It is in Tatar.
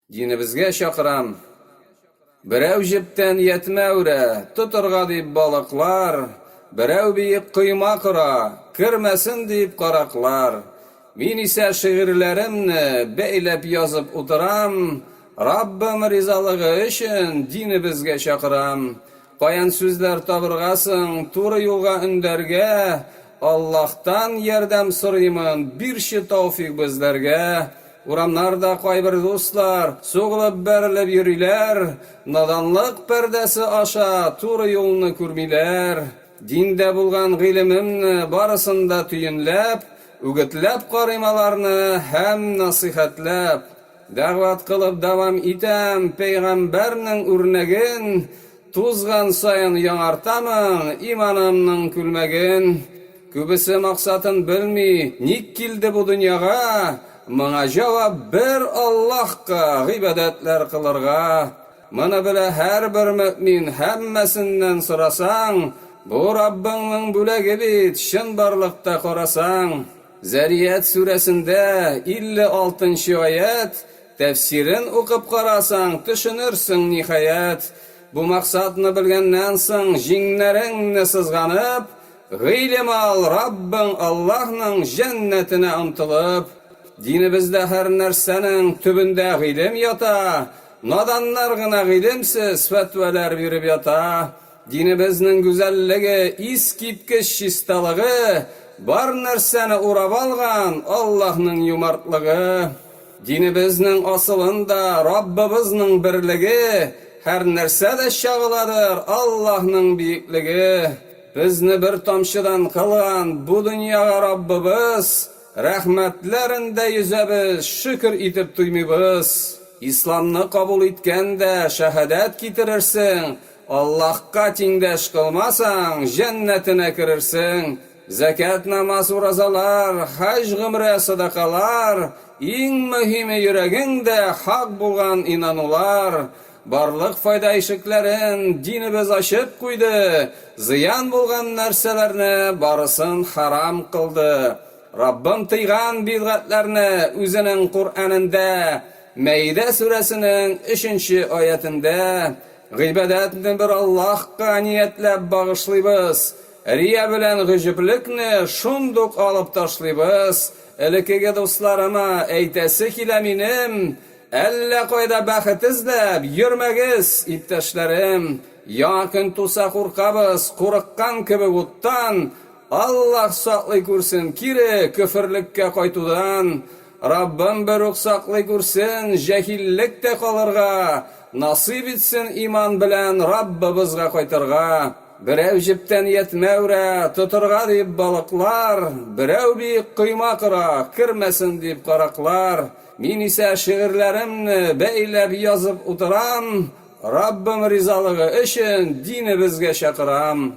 Динебезгә чакырам. Берәү җептән ятьмә үрә, тотырга дип балыклар, берәү биек койма кора, кермәсен дип караклар. Мин исә шигырьләремне бәйләп язып утырам, Раббым ризалыгы өчен динебезгә чакырам, Каян сүзләр табырга соң, туры юлга өндәргә, Аллаһтан ярдәм сорыймын, бирче тауфик безләргә. Урамнарда кайбер дуслар, сугылып-бәрелеп йөриләр, Наданлык пәрдәсе аша туры юлны күрмиләр. Диндә булган гыйлемемне барысын да төенләп, Үгетләп карыйм аларны һәм насыйхәтләп. Дәгъват кылып дәвам итәм, пәйгамбәрнең үрнәген тузган саен яңартамын, иманымның күлмәген. Күбесе максатын белми, ник килде бу дөньяга, моңа җавап бер Аллаһка гыйбадәтләр кылырга. Моны белә һәрбер мөэмин, һәммәсеннән сорасаң, бу Раббыңның бүләге бит, чынбарлыкта карасаң. Зарияәт сүрәсендә 56 нчы аять, тәфсирен укып карасаң, төшенерсең, ниһаять. Бу максатны белгәннән соң, җиңнәреңне сызганып, гыйлем ал, Раббың Аллаһның җәннәтенә омтылып. Динебездә һәрнәрсәнең төбендә гыйлем ята, наданнар гына гыйлемсез фәтвәләр биреп ята. Динебезнең гүзәллеге, искиткеч чисталыгы, бар нәрсәне урап алган Аллаһның юмартлыгы, динебезнең асылын да Раббыбызның берлеге, һәрнәрсә дә чагыладыр Аллаһның биеклеге. Безне бер тамчыдан кылган бу дөньяга Раббыбыз, рәхмәтләрен дә йөзәбез, шөкер итеп туймыйбыз. Исламны кабул иткән дә шәһадәт китерерсең, Аллаһка тиңдәш кылмасаң, җәннәтенә керерсең. Зәкят, намаз, уразалар, хаҗ, гомрә, садакалар, иң мөһиме йөрәгеңдә хак булган инанулар. Барлык файда ишекләрен динебез ачып куйды, зыян булган нәрсәләрне барысын харам кылды. Раббым тыйган бидгатьләрне Үзенең Коръәнендә, Мәидә сүрәсенең өченче аятендә, Гыйбадәтне бер Аллаһка ниятләп багышлыйбыз, рия белән гөҗүплекне шундук алып ташлыйбыз, элекеге дусларыма әйтәсе килә минем, әллә кайда бәхет эзләп йөрмәгез, иптәшләрем, яңа көн туса куркабыз, курыккан кебек уттан, Аллаһ саклый күрсен кире көферлеккә кайтудан, Раббым берүк саклый күрсен, җәһиллек тә калырга, насыйп итсен иман белән Раббыбызга кайтырга. Берәү җептән ятьмә үрә, тотырга дип балыклар, берәү биек койма кора, кермәсен дип караклар. Мин исә шигырьләремне бәйләп язып утырам, Раббым ризалыгы өчен динебезгә чакырам.